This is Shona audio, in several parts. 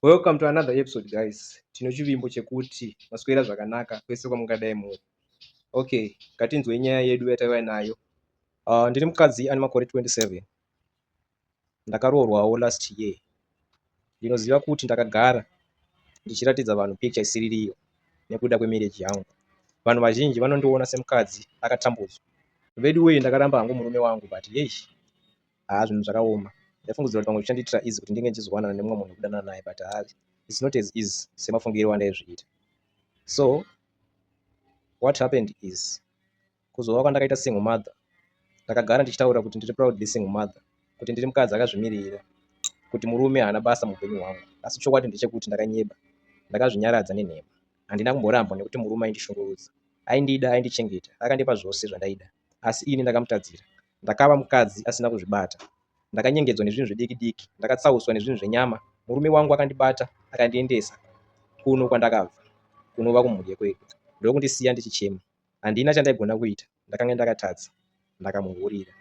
Welcome to another episode guys. Tino chivimbo chekuti maswera zvakanaka kwese kwamungadai muri. Okay, ngatinzwe nyaya yedu yataiva nayo. Uh, ndiri mukadzi ane makore 27. Ndakaroorwawo last year. Ndinoziva kuti ndakagara ndichiratidza vanhu picture isiririyo nekuda kwemarriage yangu. Vanhu vazhinji vanondiona semukadzi akatambudzwa. Veduwee ndakaramba hangu murume wangu but yesh. haa zvinhu zvakaoma ndaifungidzira kuti pamwe zvichandiitira easy kuti ndinge ndichizowanana nemumwe munhu kudanana naye but haa it's not as easy semafungiro andaizviita so what happened is kuzova kwandakaita single mother ndakagara ndichitaura kuti ndiri proudly single mother kuti ndiri mukadzi akazvimirira kuti murume haana basa muupenyu hwangu asi chokwadi ndechekuti ndakanyeba ndakazvinyaradza nenhema handina kumborambwa nekuti murume aindishungurudza aindida aindichengeta akandipa zvose zvandaida asi ini ndakamutadzira. Ndakava mukadzi asina kuzvibata. Ndakanyengedzwa nezvinhu zvediki diki, ndakatsauswa nezvinhu zvenyama. Murume wangu akandibata akandiendesa kuno kwandakabva, kunova kumhuri yekwedu, ndokundisiya ndichichema. Handina chandaigona kuita, ndakanga ndakatadza. Ndakamuhurira.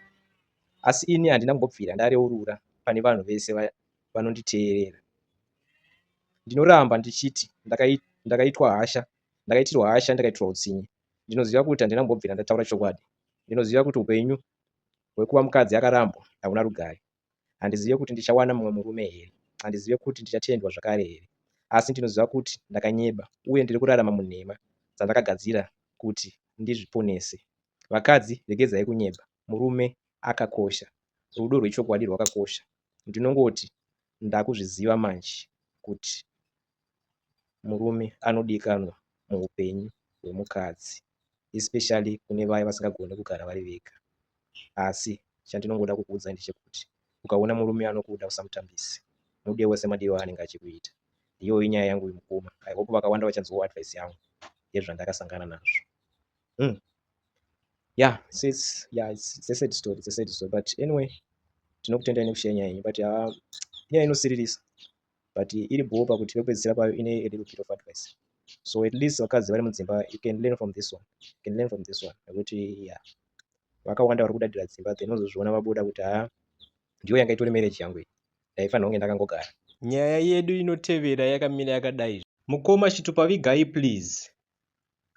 Asi ini handina kumbobvira ndareurura pane vanhu vese vanonditeerera. Ndinoramba ndichiti ndakaitirwa hasha, ndakaitirwa hasha, ndakaitirwa utsinye. Ndinoziva kuti handina kumbobvira ndataura chokwadi. Ndinoziva kuti upenyu hwekuva mukadzi akarambwa hauna rugare. Handizive kuti ndichawana mumwe murume here. Handizive kuti ndichatendwa zvakare here. Asi ndinoziva kuti ndakanyeba uye ndiri kurarama munhema dzandakagadzira kuti ndizviponese. Vakadzi, regedzai kunyeba. murume akakosha rudo rwechokwadi rwakakosha ndinongoti ndakuzviziva manje kuti murume anodikanwa muupenyu hwemukadzi especially kune vaya vasingagone kugara vari vega asi chandinongoda kukuudzai ndechekuti ukaona murume anokuda usamutambise mude wese madiro aanenge achikuita iyoyo inyaya yangu mukoma i hope vakawanda vachanzwawo advice yangu yezvandakasangana nazvo mm. yeah sis yeah it's, it's a sad story it's a sad story but anyway tinokutendai nekushaya nyaya yenyu but uh, nyaya inosiririsa but iri bhoo pakuti pekupedzisira payo ine a little bit of advice so at least vakadzi vari mudzimba you can learn from this one you can learn from this one nekuti yeah vakawanda vari kudadira dzimba then unozozviona vabuda kuti haa ah, ndiyo yanga itori marriage yangu iyi ndaifanira kunge ndakangogara nyaya yedu inotevera yakamira yakadai mukoma chitupavigai please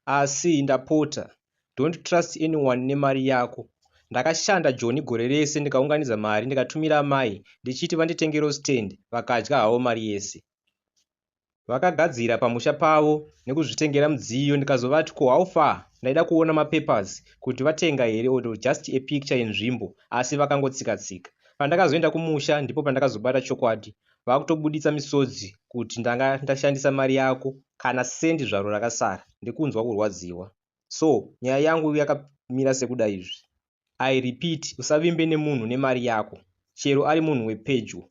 asi ndapota don't trust anyone nemari yako ndakashanda joni gore rese ndikaunganidza mari ndikatumira amai ndichiti vanditengero stand vakadya havo mari yese vakagadzira pamusha pavo nekuzvitengera mudziyo ndikazovati ko how far ndaida kuona mapapers kuti vatenga here or just a picture yenzvimbo asi vakangotsika tsika pandakazoenda kumusha ndipo pandakazobata chokwadi vakutobuditsa misodzi kuti ndanga ndashandisa mari yako kana sendi zvaro rakasara ndikunzwa kurwadziwa so nyaya yangu yakamira sekuda izvi i repeat usavimbe nemunhu nemari yako chero ari munhu wepedyo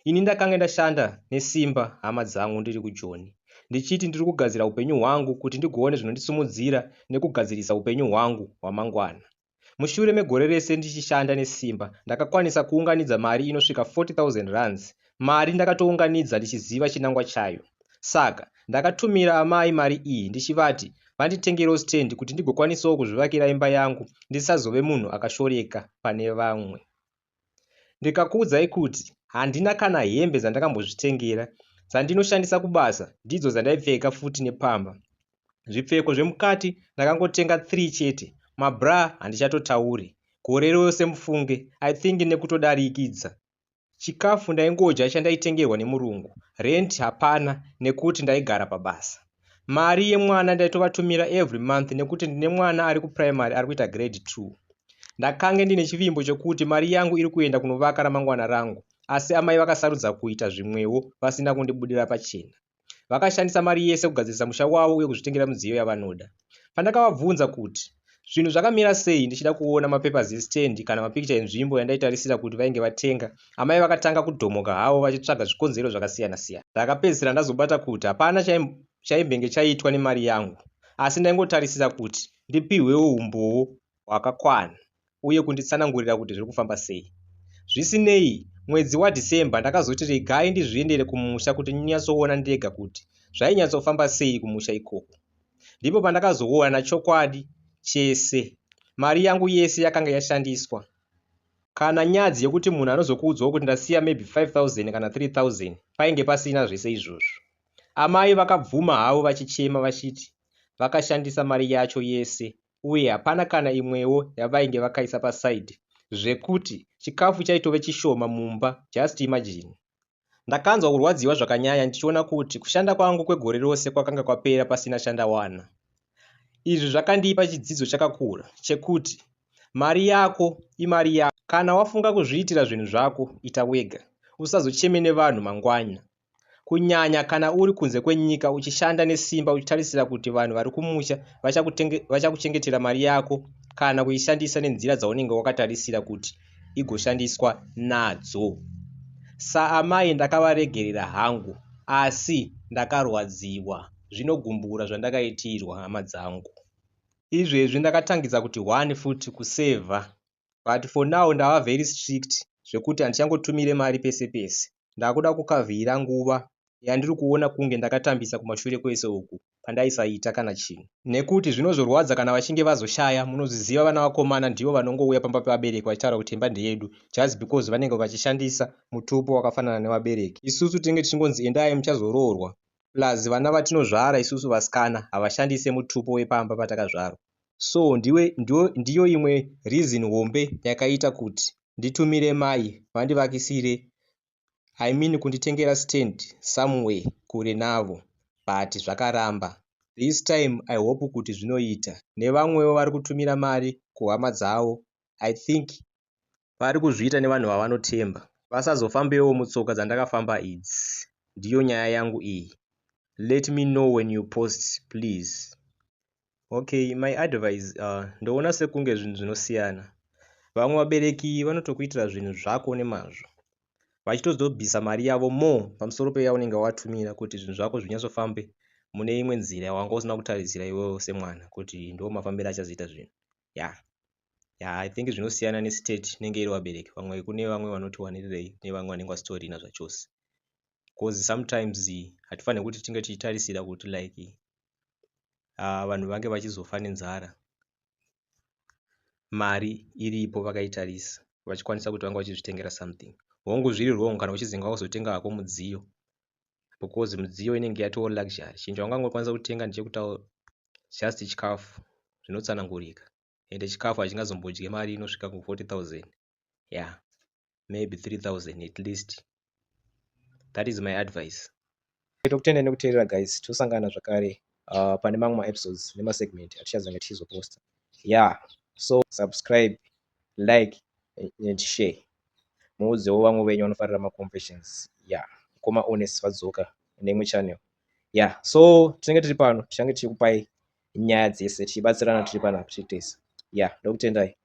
ini ndakange ndashanda nesimba hama dzangu ndiri kujoni ndichiti ndiri kugadzira upenyu hwangu kuti ndigoone zvinondisumudzira nekugadzirisa upenyu hwangu hwamangwana Mushure megore rese ndichishanda nesimba, ndakakwanisa kuunganidza mari inosvika 40,000 rands. Mari ndakatounganidza ndichiziva chinangwa chayo. Saka, ndakatumira amai mari iyi ndichivati vanditengerewo stand kuti ndigokwanisawo kuzvivakira imba yangu ndisazove munhu akashoreka pane vamwe. Ndikakuudzai kuti handina kana hembe dzandakambozvitengera, dzandinoshandisa kubasa ndidzo dzandaipfeka futi nepamba. Zvipfeko zvemukati ndakangotenga 3 chete, mabra handichatotauri. Gore rose mufunge, I think nekutodarikidza. Chikafu ndaingodya chandaitengerwa nemurungu, rent hapana nekuti ndaigara pabasa. Mari yemwana ndaitovatumira every month nekuti ndine mwana ari kuprimary ari kuita grade 2. Ndakange ndine chivimbo chekuti mari yangu iri kuenda kunovaka ramangwana rangu asi amai vakasarudza kuita zvimwewo vasina kundibudira pachena. Vakashandisa mari yese kugadzirisa musha wavo uye kuzvitengera midziyo yavanoda. Pandakavabvunza kuti Zvinhu zvakamira sei ndichida kuona mapapers estand kana mapikicha enzvimbo yandaitarisira kuti vainge vatenga. Amai vakatanga kudhomoka havo vachitsvaga zvikonzero zvakasiyana siyana. Ndakapedzisira ndazobata kuti hapana chaimbenge chaitwa nemari yangu asi ndaingotarisira kuti ndipihwewo humbowo hwakakwana. uye kunditsanangurira kuti zviri kufamba sei. Zvisinei, mwedzi waDecember ndakazoti regai ndizviendere kumusha kuti ndinyatsoona ndega kuti zvainyatsofamba sei kumusha ikoko. Ndipo pandakazoona chokwadi chese. Mari yangu yese yakanga yashandiswa. Kana nyadzi yekuti munhu anozokuudzawo kuti ndasiya maybe 5000 kana 3000 painge pasina zvese izvozvo. Amai vakabvuma havo vachichema vachiti vakashandisa mari yacho yese uye hapana kana imwewo yavainge vakaisa paside zvekuti chikafu chaitove chishoma mumba just imagine. Ndakanzwa kurwadziwa zvakanyanya ndichiona kuti kushanda kwangu kwegore rose kwakanga kwapera pasina chandawana. Izvi zvakandipa chidzidzo chakakura chekuti mari yako imari yako kana wafunga kuzviitira zvinhu zvako ita wega usazocheme nevanhu mangwana kunyanya kana uri kunze kwenyika uchishanda nesimba uchitarisira kuti vanhu vari kumusha vachakuchengetera mari yako kana kuishandisa nenzira dzaunenge wakatarisira kuti igoshandiswa nadzo saamai ndakavaregerera hangu asi ndakarwadziwa zvinogumbura zvandakaitirwa hama dzangu izvezvi ndakatangidza kuti one futi kusevha but for now ndava very strict zvekuti handichangotumire mari pese pese ndakuda kukavhira nguva yandiri kuona kunge ndakatambisa kumashure kwese uku pandaisaita kana chinhu nekuti zvinozorwadza kana vachinge vazoshaya munozviziva vana vakomana ndivo vanongouya pamba pevabereki vachitaura kuti imba ndeyedu just because vanenge vachishandisa mutupo wakafanana nevabereki isusu tinenge tichingonzi endai muchazoroorwa plus vana vatinozvara isusu vasikana havashandise mutupo wepamba patakazvarwa so ndiwe, ndiwe, ndiyo imwe reason hombe yakaita kuti nditumire mai vandivakisire i mean kunditengera stand somewhere kure navo but zvakaramba this time i hope kuti zvinoita nevamwewo vari kutumira mari kuhama dzavo i think vari kuzviita nevanhu vavanotemba vasazofambewo mutsoka dzandakafamba idzi ndiyo nyaya yangu iyi let me know when you post please okay my advice uh, ndoona sekunge zvinhu zvinosiyana vamwe vabereki vanotokuitira zvinhu zvako nemazvo vachitozobvisa mari yavo more pamusoro peyaunenge watumira kuti zvinhu zvako zvinyatsofambe mune imwe nzira wanga usina kutarisira iwewo semwana kuti ndo mafambiro achazoita zvinhu ya ya i think zvinosiyana nestate inenge iri vabereki vamwe kune vamwe vanoti wanirirei nevamwe vanenge vasitorina zvachose bcause sometimes hatifanire kuti tinge tichitarisira kuti like uh, vanhu vange vachizofa nenzara mari iripo vakaitarisa vachikwanisa kuti vanga vachizvitengera something hongu zviri wrong kana uchizinga wakuzotenga hako mudziyo because mudziyo inenge yatoo luxury chinhu chaungangokwanisa kutenga ndechekutawo just chikafu zvinotsanangurika ende chikafu hachingazombodye mari inosvika ku 40 000 yeah maybe 3 000 at least that is my advice tokutenda nekuteerera guys tosangana zvakare uh, pane mamwe maepisodes nemasegment atichazenge tichizoposta yeah so subscribe like and share muudzewo vamwe venyu vanofarira maconfessions ya yeah. mukoma honest vadzoka neimwe channel ya yeah. so tinenge tiri pano tichange tichikupai nyaya dzese tichibatsirana tiri panapa tiri tese ya yeah. ndokutendai